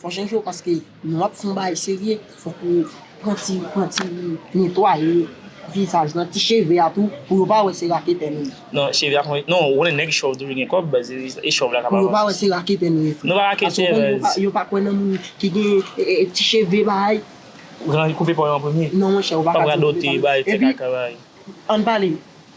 Fò chanje yo paske lè wap fè yon bagay serye fòk ou pran ti pran ti netwaye vizaj lan ti cheve a tou pou yo pa wè se raketè nou ye. Non cheve a konn non ou konnen nèg chòv toujou gen kòb baz e chòv la ka pa pou yo pa wè se raketè nou ye frè. Nou pa raketè baz. Yo pa kwè nan moun ki gen ti cheve bay. Koupe po yo an premye. Non monchè ou pa ka di koupe po yo. Pap radote bay fè kaka bay. Ann pale.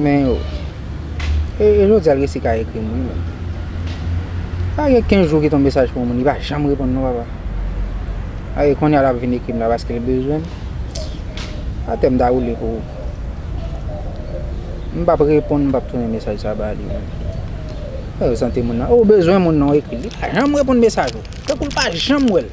Men yo. E jodi al resi ka ekrim wi menm. Sa gen 15 jou ki ton mesaj pou moun li pa janm reponn non papa. Ae konya lap vin ekrim la paske li bezwen. Atè m ta woule pou ou. M pap reponn m pap tounen mesaj sa ba li. Ou bezwen moun nan ou bezwen moun nan ou ekri li pa janm reponn mesaj ou. Tankou l pa janm wèl.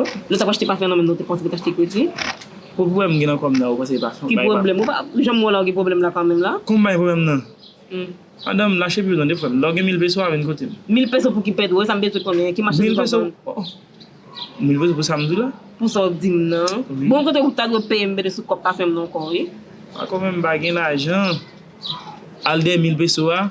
Nou tap achte pafen nan men nou te panse pou t achte kredi. Pwoblm gen nan kòm nan ou panse li pa fon. Ki pwoblm? M janm wè w la ou gen pwoblm la kanmenm la. Kon bay pwoblm nan. Madanm lache pye w tande frè m. Lè w gen mil peso a vin kote m. Mil peso pou ki pèdi wè sa m bezwen konnen an ki machandiz wap vann. Mil peso pou sa m di w la. Pou sa w di m nan. Bon kote ou ta dwe peye m bede sou kòb pafen m nan ankò wi. Ankò menm m pa gen lajan al dèyè mil peso a.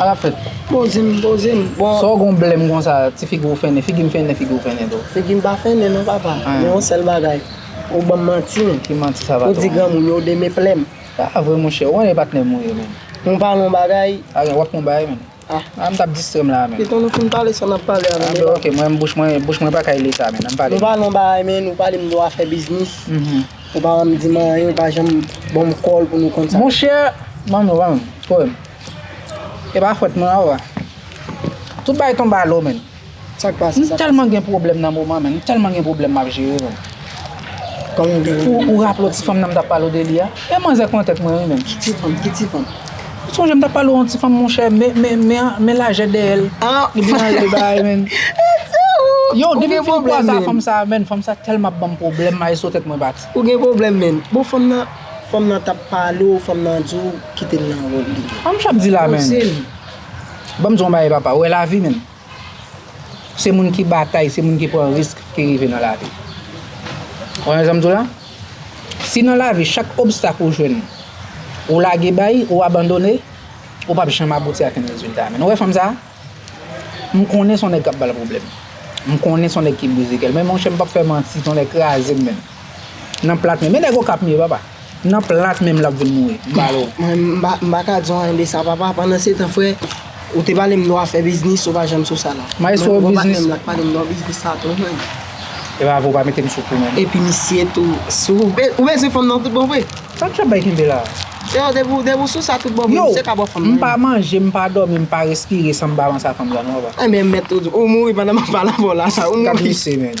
Ala fèt. Poze m, poze m. Bon. Sa w gen yon blèm konsa, ti figi w fennen, figi m fennen, figi w fennen tou. Figi m pa fennen non papa. An. Gen yon sèl bagay. Ou ban m manti w. Ki manti sa, patwon? Ou di granmoun yo demeple m. Sa pa vre monchè, ou konnen e patnè m ou ye menm. M pale yon bagay. A gen, w ap fè yon bagay menm. A. A m t ap distrè m la a menm. Piton nou fin pale sa n ap pale a menm. A bon, ok, mwen menm bouch mwen, bouch mwen pa ka e li sa menm. An m pale. M pale yon bagay menn, ou pale m de w afè biznis. Ou pa janm dim anyen, ou pa janm banm kòl pou nou konn sa. Mon cher, banm yon banm poem. E pa fwèt mwen a ou a. Tout bagay tonbe a lo menn. Sak pase, sak pase. M telman gen pwoblèm nan moman menn, m telman gen pwoblèm map jere menn. Kòman ou gen pwoblèm? Ou raple w ti fanm nan m tap pale w de li a? E manzè kontek mwen wi menn. Ki ti fanm? Ki ti fanm? Ou sonje m ta pale w yon ti fanm monchè men lajè dèyè l li byen anlè bagay menn. Yow depi m fin kwaze ak fanm sa menn fanm sa tèlman banm pwoblèm maestro tèt mwen bat. Ou gen pwoblèm menn. Bon fanm nan fanm nan tap pale w fanm nan di w kite l nan wòl li. Sa m chap di la menn. Banm di w yon bagay papa ou wè lavi menn. Se moun ki batay, se moun ki pran risk ki rive nan lavi. Konprann sa m di w la? Si nan lavi chak obstak ou jwenn, ou lage bay, ou abandone, ou p ap janm abouti ak yon rezilta. Men nou wè fanm sa a? M konnen se yon nèg k ap ba l pwoblèm. M konnen se yon nèg ki brize kè l. Men monchè m p ap fè manti, se yon nèg kraze m menm. Nan plat menm. Men nèg Okap m ye papa. Nan plat menm l ap vin mouri. M pale w. Mwen m pa ka di w anyen de sa papa. Pandansetan frè, ou te pale m de w afè biznis, ou pa janm sou sa la. Mayestwo biznis. Mwen patnè m la te pale m de w biznis sa tou men. E pa vre ou pa mete m sou kou menm. Epi misye tou sou. Ou bezwen fanm nan tout bon vre? Sa k ap bay kenbe la a? Freo depi w sou sa tout bon vre, misye ka ba w fanm nan. Yow, m pa manje, m pa dòmi, m pa respire san m pa panse a fanm sa non papa. Enben m mèt ou di w. Ou mouri pandan m ap pale avè w la sa. Ou mouri. Gad misye menm.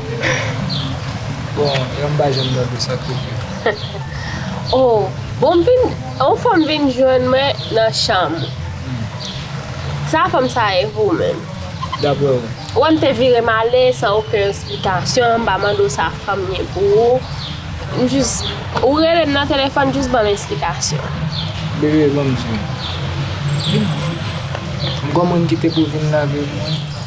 Bon yon pa janm tande sa koupé. Oh bon m vin yon fanm vin jwenn mwen nan chanm ou sa fanm sa ye pou ou menm? Daprè ou? Ou wè m te vire m ale san oken esplikasyon m pa mande w sa fanm ye pou ou m jis ou rele m nan telefòn jis banm esplikasyon. Bebe banm di w. M gon moun ki te pou vin lave mwen.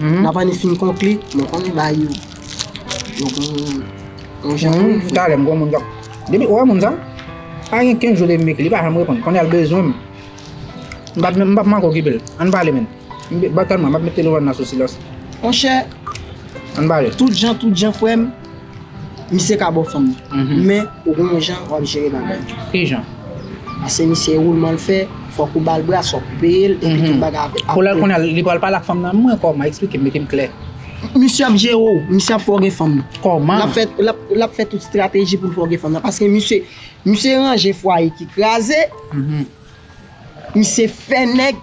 Nan pa ni fin konkli, mwen konnen bagay yo yo gon jan wi frè. Talè m konn moun kap depi ou wè moun sa pa gen 15 jou depi m ekri li pa janm reponn konnye a l bezwen m m pap menm m pap manke okipe l ann pale menn m pap kalm nan m ap met telefòn nan sou silans. Monchè Ann pale. Tout jan tout jan frè m. Misye ka bo fanm nan. Men, ou gen yon jan wap jere bagay yo. Ki jan? Pase misye woulman l fè, fòk ou ba l brasa, ou peye l, epi tout bagay ap. Pou lè kounya li pral pale ak fanm nan mwen kòman? Eksplike m, mete m klè. Misye ap jere w, misye ap fè w gen fanm nan. Kòman? Lap fè, lap fè tout strateji pou l fè w gen fanm nan. Pase misye, misye ranje fwaye ki kraze, misye fè nèg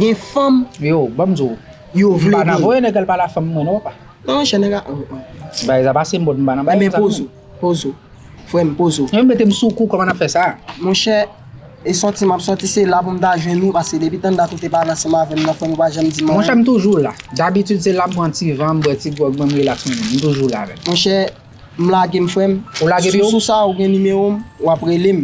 gen fanm. Yo, banm di w. Yo vle gen. M pa nan voye nèg al pale ak fanm mwen non, papa. Nan yon chèn aga oh oh. Ti bagay sa pa se mod m pa nan bagay sa non. Enben pozo, pozo. Frè m pozo. Yo mete m sou kou kòman n ap fè sa? Monchè e sòti m ap sòti se la pou m ta jwenn ou paske depi tanndat ou te pa la ansanm avè m nan frè m ou pa janm di m anyen. Monchè m toujou la. Dabitid se la m pran ti van m bwè ti gwòg mwen m relaks mwen menm. M toujou la menm. Monchè m lage m frè m. Ou lage m yo? Sou sa ou gen nimewo m w ap rele m.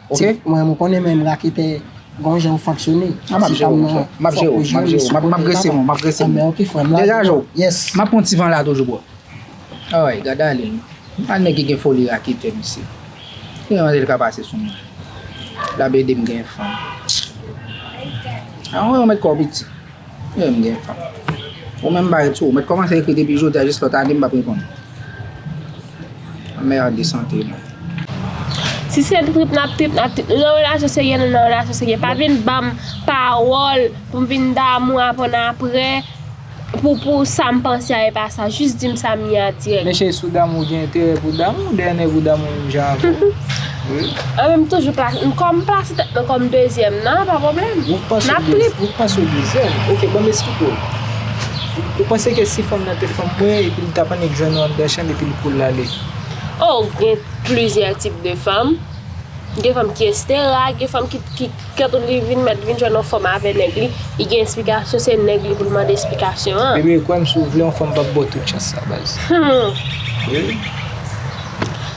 Ok mwen renmen w konnen menm raketè gon jan ou fonksyone. Ah map jere w mon frè. Map jere w, map jere w. Map grese moun, map grese moun. Ok frè m. Deja ajo? Yes. Map pran ti van la toujou bro. Alright gad ale non. An nèg ki gen foli raketè mesye. Ki jan manzèl ka pase sou mwen. Lap ede m gen fanm. An ou mèt kò w piti. Mwen menm gen tan. Ou menm bay tou. Ou mèt kòmanse ekri depi jodi a jis lòt ane m pap reponn ou. Anmerde sante nou. Si se trip nap trip nap trip. Nou nan relasyon serye nou nan relasyon serye. Pa vin banm pawòl pou m vin damou avann aprè pou pou sa m panse a epa sa. Jis di m sa m ye a dirèk. Mesye si w damou ou gen enterè pou w damou. Dèyè nèg ou damou menm jan avè w. An men m toujou plase, m kòm plase tèt mwen kòm dezyèm nan, pa pwoblèm. Ou k panse ou dezyèm? Ou k panse ou dezyèm? Ok, banm esplike w. Ou panse ke si fanm nan te fanm mwen epi li tap annik jwenn ou anndan chanm epi li pou l ale? Oh, gen plizyè tip de fanm. Gen fanm ki estera, gen fanm ki, ki, kèt li vin mèt vin jwenn yon fanm avè nèg li, li gen esplikasyon, se nèg li pou l mande esplikasyon an. Bebe, kwè m si w vle yon fanm pap ba w tout chans sa baz. Hum! Wi.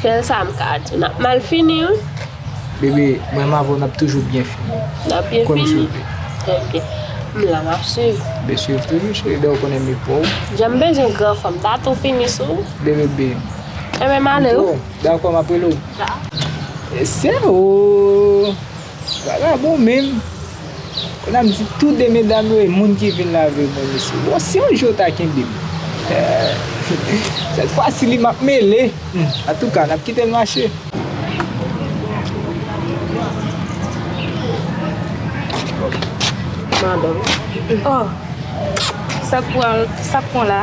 Sel sa m ka di. Nap mal fini wi. Bebe mwen m avèw nap toujou byen fini. Nap byen fini? Ok. M la map swiv. Bebe swiv toujou cheri dew konnen me pouw. Janm bezwen gran fanm sa tou fini sou. Bebe bem. Enben m ale wi. Dako map rele w. Dako. Ese ooh. Bagay la bon menm. Kounye a m di tou 2 medam yo e moun ki vin lave mwen mesye. Bon si yon jou yo ta kenbe m. Eeh. Sèt fwa si li m ap mele. Antouka n ap kite l mache. Madanm. Oh. Sa k pran la?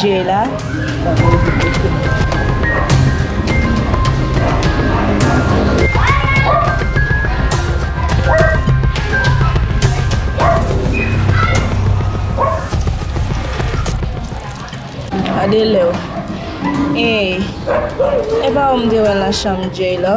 Jay la. Gade lèw. Ey. Epa ou m te wè nan chanm Jay la.